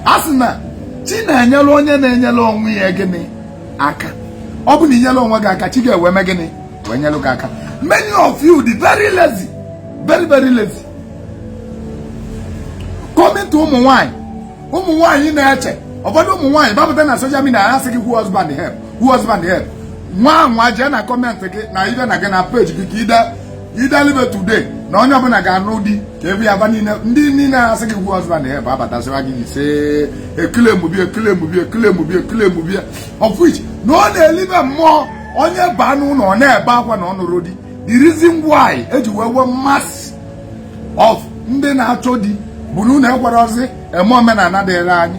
a sị na chi na-enyelu onye na-enyelu onwe ya gịnị aka ọ bụ na i nyelu onwe gị aka chi ga-ewe me gịnị wee nyelu gị aka many of you dị very lazy very very lazy coming to ụmụ nwanyị ụmụ nwanyị na-eche ụfọdụ ụmụ nwanyị gbapụta na social media ha sị gị who husband help who husband help ngwa ngwa jee na comment gị na ibe na gị na page gị ka ide idelibe today na onye ọbụla ga-anụ di ka ebe ya ba niile ndị niile asị gị who husband help abata sịwa gị ise ekele mụbi ekele mụbi ekele mụbi ekele mụbi of which na ọ na-elibe mmụọ onye baa n'ụlọ ọ na-ebe akwa na ọ nụrọ di the reason why e ji wee nwee mass of ndị na-achọ di bụ na unu ekwerọzị eme omenala dịrị anyị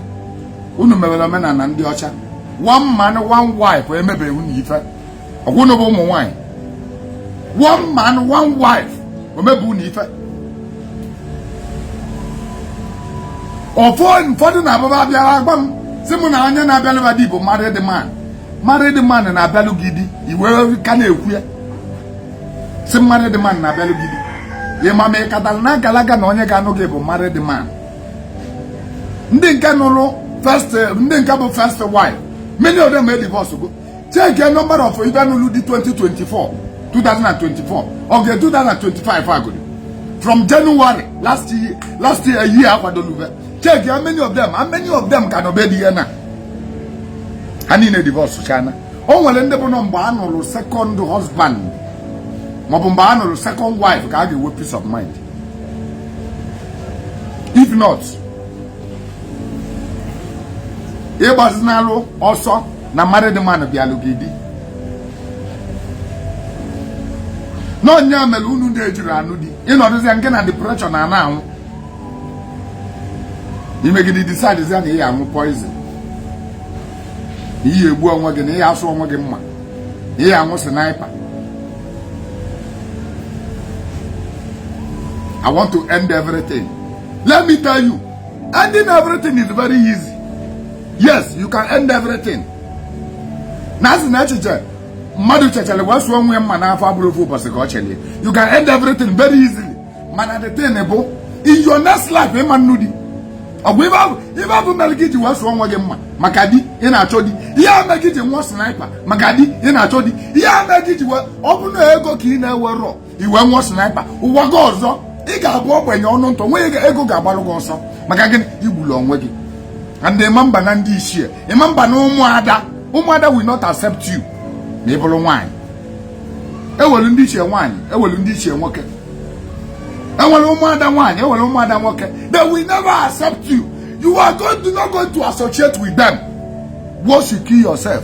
unu mewere omenala ndị ọcha one man one wife emebeghị unu ife ọ bụ unu bụ ụmụ nwaanyị one man one wife o mebe unu ife ụfọdụ na-ababa abịara agwa m sị mụ na onye na-abịalụ ba di bụ married man married man na-abịalụ gị di i wee ka na-ekwu ya sị married man na-abịalụ gị di ị ma ma ị katara na agalaga na onye ga-anụ gị bụ married man ndị nke nụrụ first ndị nke bụ first wife many of them e divorce go check a number of ịba nụlụ di 2024 2024 of the 2025 agodi from January last year last year year akwadoluve check how many of them how many of them ka nọ be di ya na ha niile divorce chana o nwere ndị bụ na ọ mgbe a nụrụ second husband maọbụ mgbe a nụrụ second wife ka a ga-enwe peace of mind if not ị gbazinalụ ọsọ na married man bịalụ gị di na ọ ya mere unu na-ejirọ anụ di ị nọdụzia nke na depression na ana anwụ i megide decidezia na ị ya anwụ poison ị ya egbu onwe gị na ị ya asụ onwe gị mma na ị ya anwụ sniper I want to end everything. Let me tell you, Ending everything is very easy. Yes, you can end everything. Na a sị na echiche mmadụ chechere wee sụọ onwe ya mma n'afọ abụrọ ofu ụbọchị ka ọ chelụ ya. You can end everything very easily. Mana the thing bụ in your next life ị ma anụ di. Ọ bụ ibe abụ mere gị ji wee sụọ onwe gị mma maka di ị na-achọ di. Ihe ame gị ji nwụọ sniper maka di ị na-achọ di. Ihe ame gị ji wee ọ bụ na ego ka ị na-enwerọ ị wee ṅụa sniper ụwa gị ọzọ ị ga-abụ ogbenye ọnụ ntụ nwe ego ga-agbalụ gị ọsọ maka gịnị igbulu onwe gị and ịma mba na ndị ichie ịma mba na ụmụada ụmụada will not accept you ma ị bụrụ nwaanyị enwelu ndị ichie nwaanyị enwelu ndị ichie nwoke enwere ụmụada nwaanyị enwere ụmụada nwoke they will never accept you you are going to not going to associate with them once you kill yourself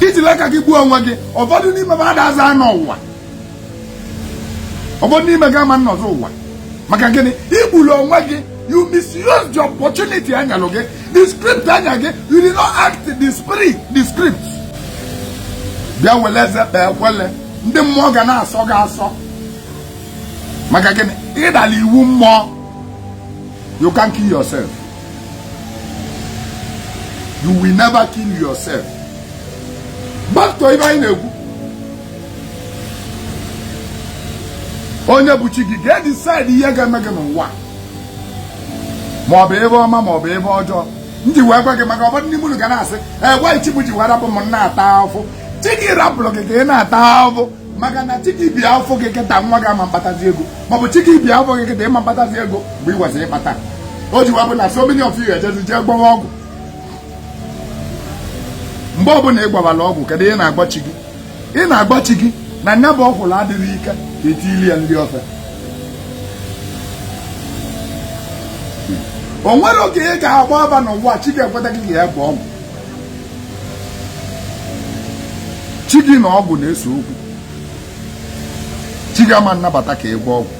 ijili aka gị gbuo onwe gị ụfọdụ n'ime fa adazị anọ ụwa ụfọdụ n'ime gị ama nnọzị ụwa maka gịnị igbulu onwe gị you misuse the opportunity a nyalụ gị the script a nya gị you did not act the spirit the script bịa wele eze kpee ekwele ndị mmụọ ga na-asọ gị asọ maka gịnị ịdalụ iwu mmụọ you can't kill yourself you will never kill yourself back to ife anyị na-ekwu onye bụ chi gị ga-edecide ihe ga-eme gị n'ụwa ma ọ bụ ife ọma ma ọ bụ ife ọjọọ m ji wee gwa gị maka ụfọdụ ndị mmadụ ga na-asị why chi m ji wee rapụ m na-ata ahụhụ chi gị rapụlụ gị ka ị na-ata ahụhụ maka na chi gị bi afọ gị kịta nwa gị ama mkpatazi ego maọbụ chi gị bi afọ gị kịta ịma mkpatazi ego mgbe i kwesiri ịkpata o ji wee bụ na so many of you ejezi jee gwọwa ọgwụ mgbe ọbụla ị gwọwara ọgwụ kedu ị na-agwa chi gị ị na-agwa chi gị na nya bụ ọkwụrụ adịghị ike ka etili ya ndị ofe o nwere oge ị ga-agba aba n'ụwa chi gị ekweta gị ga ya bụ ọgwụ chi gị na ọgwụ na-ese okwu chi gị ama nnabata ka ịgwọ ọgwụ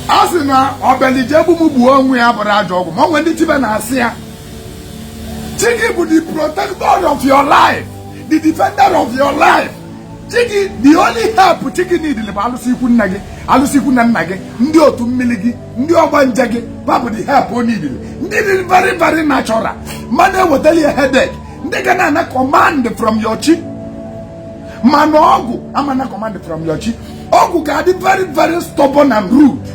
a sị na o bili je egbu m gbuo onwe ya abụrọ ajọ ọgwụ ma o nwe ndị dibịa na-asị ya chi gị bụ the protector of your life the defender of your life chi gị the only help chi gị need bụ alụsị ikwu nne gị alụsị ikwu nne nna gị ndị otu mmiri gị ndị ọgbanje gị fa bụ the help o need ndị dị very very natural ma adị ewetalụ ya headache ndị ga na-ana command from your chi mana ọgwụ ama nna command from your chi ọgwụ ga-adị very very stubborn and rude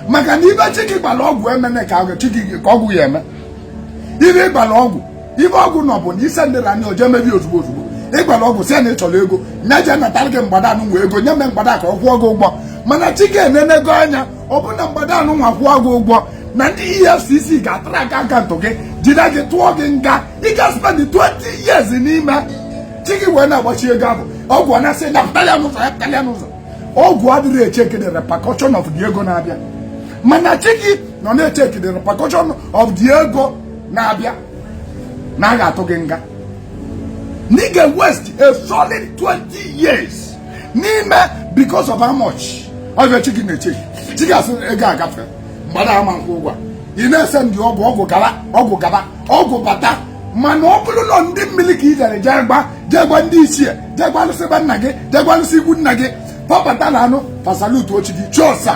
maka na ife chi gị gwara ọgwụ emene ka chi gị ka ọgwụ ya-eme ife ịgwara ọgwụ ife ọgwụ nọ bụ na ise ndị na anya o je mebe ozugbo ozugbo ịgwara ọgwụ si na ị chọrọ ego nya je natara gị mgbada anụnwa ego nya mee mgbada ka ọ kwụọ gị ụgwọ mana chi gị enenego anya fụ na mgbada anụnwa kwụọ gị ụgwọ na ndị efcc ga-atrack account gị jide gị tụọ gị nga ị ga spend 20 years n'ime chi gị wee na-agbachi ego ahụ ọgwụ ọ na-asị nya pụtara ya n'ụzọ ya pụtara ya n'ụzọ ọgwụ adịrọ echeki the repercussion of the ego na-abịa mana chi gị nọ na-echeki the repercussion of the ego na-abịa na a ga-atụ gị nga na ị ga waste a solid 20 years n'ime because of how much ọbịa chi gị na-echeki chi gị asị ego agafe mgbada ama nkwụ ụgwọ ị na-ese ndị ọgwụ ọgwụ gaba ọgwụ gaba ọgwụ bata mana ọ bụrụ na ndị mmiri ka ị jere jee gwa jee gwa ndị ichie jee gwa alụsị be nna gị jee gwa alụsị ikwu nna gị pọpụta na anụ fa salutuo chi gị chụọsa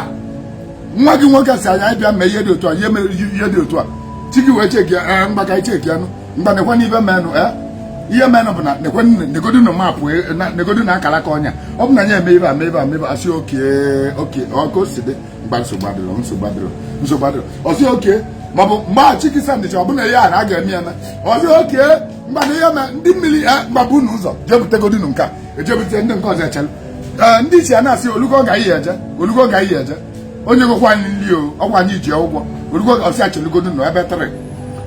nwa gị nwoke sị anyị bịa mee ihe dị otu a ihe mere ihe dị otu a chi gị wee cheki ya ee ngwa ka anyị cheki anụ ngwa nekwe na ihe menụ ee ihe menụ bụ na nekwe negodu na mapụ negodu na akara aka onye a ọ bụ na ya eme ihe a mee ihe a mee ihe a sị oke oke ọ ka o si dị ngwa nsogbu adịrọ nsogbu adịrọ nsogbu adịrọ ọ sị oke ma ọ bụ mgbe a chi gị sandịcha ọ bụ na ya na a ga-eme ya na ọ sị oke ngwa na ihe na ndị mmiri ngwa burunu ụzọ jee butegodinu nke a e jee bute ndị nke ọzọ echere ee ndị ichie a na-asị o lugo ka anyị jee o lugo ka anyị jee onye gokwa anyị nri o ọ kwa anyị ji ụgwọ o lugo ga ọ sị a chelugodunu ebe tịrị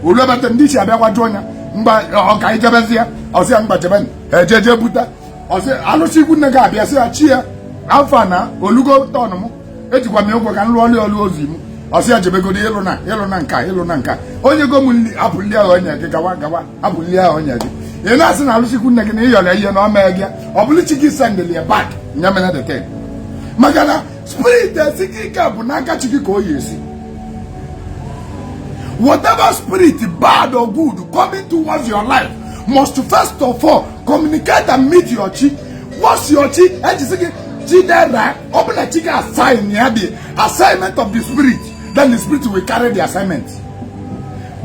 olu ebe tịrị ndị ichie abịa gwajuo ya ngwa ka anyị jebezie ọ sị ya ngwa jebe eje eje buta ọ sị alụsị ikwu nne gị abịa sị ya chi ya afọ a na o lugo turn m ejikwa m ya ụgwọ ka m lụọ ọlụ ọlụ ozi m ọ sị ya jebegodo ịlụ na ịlụ na nka ịlụ na nka onye go m nri apụ nri ahụ onye gị gawa gawa abụli ya ọnya gị ị na-asị na alụsị ikwu nne gị na ị yọrọ ihe na ọ mee gị ọ bụrụ chi gị sendịl ya back nya mere deten maka na spirit esi gị ike bụ n'aka chi gị ka o yi esi whatever spirit bad or good coming towards your life must first of all communicate and meet your chi once your chi ejisi gị chidera ọ bụ na chi gị assign ya the assignment of the spirit then the spirit will carry the assignment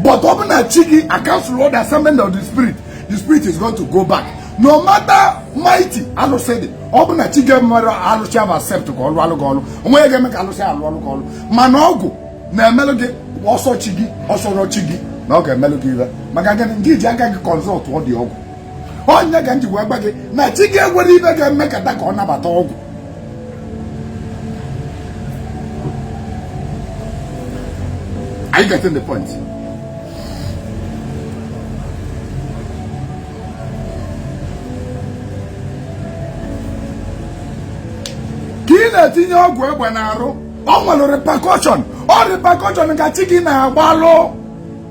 but ọ bụ na chi gị cancel the assignment of the spirit the spirit is going to go back no matter mighty alụsị dị ọ bụ na chi gị mere alụsị ahụ accept ka ọlụ alụ gị ọlụ onwe ya ga-eme ka alụsị alụ ọlụ gị ọlụ mana ọgwụ na-emelụ gị ọ sọ chi gị ọ sọrọ chi gị na ọ ga-emelụ gị ihe maka gịnị nke ị ji aka gị consult ndị ọgwụ onye ka m ji wee gwa gị na chi gị enwere ihe ga-eme ka ka ọ nabata ọgwụ Are you getting the point? ka ị na-etinye ọgwụ egbe n'arụ ọ nwere repercussion ọ repercussion ka chi gị na-agbalụ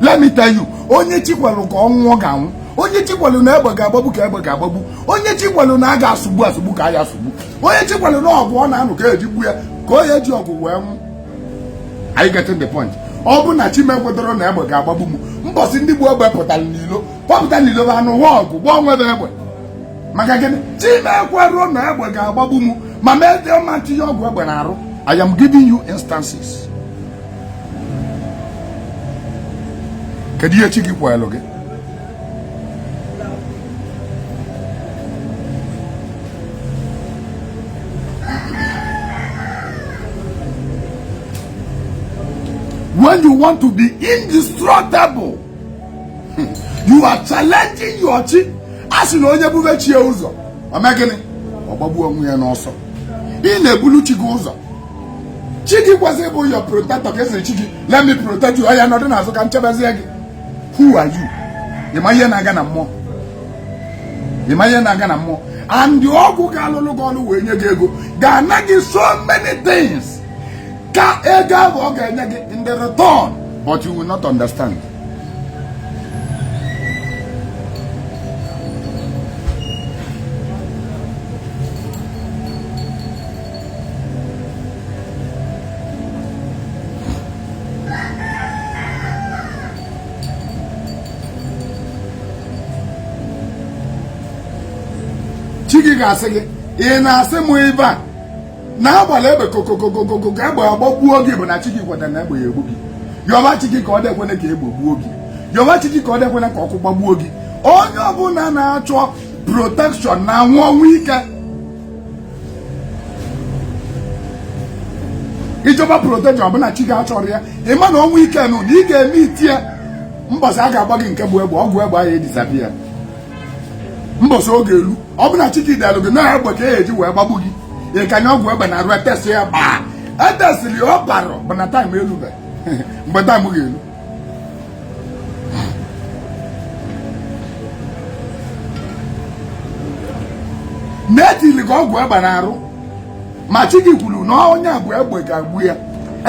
let me tell you onye chi kwelu ka ọ nwụọ ga-anwụ onye chi kwelu na egbe ga-agbagbu ka egbe ga-agbagbu onye chi kwelu na a ga-asụgbu asụgbu ka a ya asụgbu onye chi kwelu na ọgụ ọ na-anụ ka eji gbu ya ka onye ji ọgụ wee nwụ are you getting the point ọ bụ na chi m ekwetarọ na egbe ga-agbagbu m mbọsị ndị bu egbe pụtara n'ilo kpọpụta n'ilo bụ anụ nwa ọgụ gbaa onwe bụ egbe maka gịnị chi m ekwerọ na egbe ga-agbagbu m ma mee dị ọma tinye ọgwụ egbe n'arụ I am giving you instances kedu ihe chi gị kwelu gị when you want to be indestructible you are challenging your chi a sị na onye bube chi ya ụzọ ọ mee gịnị ọ gbagbuo onwe ya n'ọsọ ị na-ebulu chi gị ụzọ chi gị kwesịrị ịbụ your protector ka ị sịrị chi gị let me protect you oya nọdụ n'azụ ka m chebezie gị who are you ị ma ihe na-aga na mmụọ ị ma ihe na-aga na mmụọ and ọgwụ ga-alụlụ gị ọlụ wee nye gị ego ga-ana gị so many things ka ego ahụ ọ ga-enye gị in the return but you will not understand chi gị ga-asị gị ị na-asị m ebe a na agbala egbe kokokokokogo ka egbe agbagbuo gị bụ na chi gị kwetara na egbe ya egbu gị yọba chi gị ka ọ dịkwene ka egbe gbuo gị yọba chi gị ka ọ dịkwene ka ọkụ gbagbuo gị onye ọbụla na-achọ protection na-anwụ ọnwụ ike ị chọba protection ọ bụ na chi gị achọrọ ya ị ma na ọnwụ ike nụ na ị ga-eme i tie ya mbọsị a ga-agba gị nke bụ egbe ọgwụ egbe ahụ e disappear mbọsị oge elu ọ bụ na chi gị delu gị na egbe ka e ji wee gbagbu gị ị kanye ọgwụ egbe n'arụ e test ya gbaa etesịrị ya ọ barọ bụ na time elube mgbe time ga-elu na-etili ka ọgwụ egbe n'arụ ma chi gị kwuru na onye a bụ egbe ga-egbu ya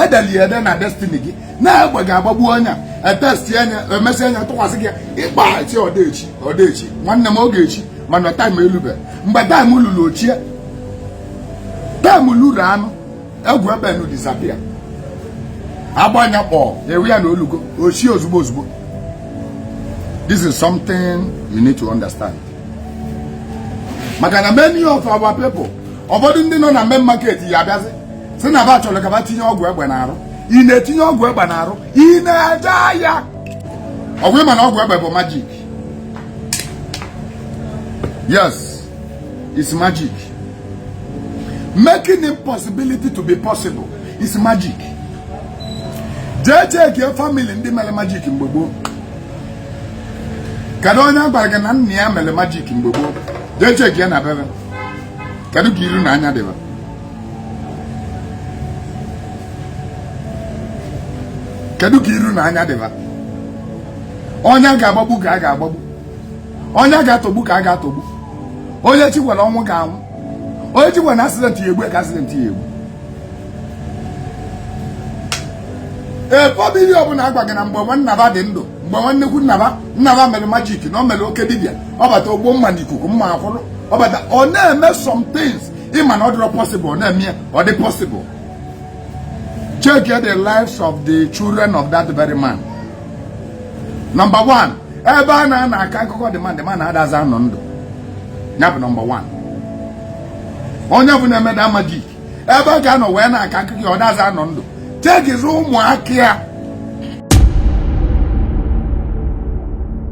e deli ya ede na destiny gị na egbe ga-agbagbu onye e testia nya e mesịa nya tụkwasị gị ịkpa chi ọdaechi ọdaechi nwanne m ọ ga-echi mana time elube mgbe time luru o chie time luru anụ ọgwụ egbe nụ disappear a gbaa nya kpọ ewe ya na o lugo o chie ozugbo ozugbo this is something you need to understand maka na many of our people ụfọdụ ndị nọ na main market ya abịazi sị na ba chọrọ ka ba tinye ọgwụ egbe n'arụ ị na-etinye ọgwụ egbe n'arụ ị na-eje aya ọ bụ ị ma na ọgwụ egbe bụ magic yes is magic making impossibility to be possible is magic jee chekie famili ndị mere magic mgbe gboo kedu onye a gwara gị na nna ya mere magic mgbe gboo jee chekie na be ba kedu ka iru na anya dị ba kedu ka iru na anya dị ba onye a ga-agbagbu ka a ga-agbagbu onye a ga-atọgbu ka a ga-atọgbu onye chi gwara ọnwụ ga-anwụ onye chi gwara accident ya egbu ka accident ya egbu ee famili ọbụla a gwa gị na mgbe nwanna ba dị ndụ mgbe nwanne kwu nna ba nna ba mere magic na o mere oke dibịa ọ bata o gbuo mma na ikuku mma akwụrụ ọ bata ọ na-eme some things ị ma na ọ dịrọ possible ọ na-eme ya ọ dị possible check the lives of the children of that very man number one ebe a nọ na-aka akụkọ the man ma na-adaza anọ ndụ ya bụ number one onye bụ na-eme the magic ebe a ga-anọ wee na-aka akụkọ ya ọ daza anọ ndụ chekizie ụmụaka ya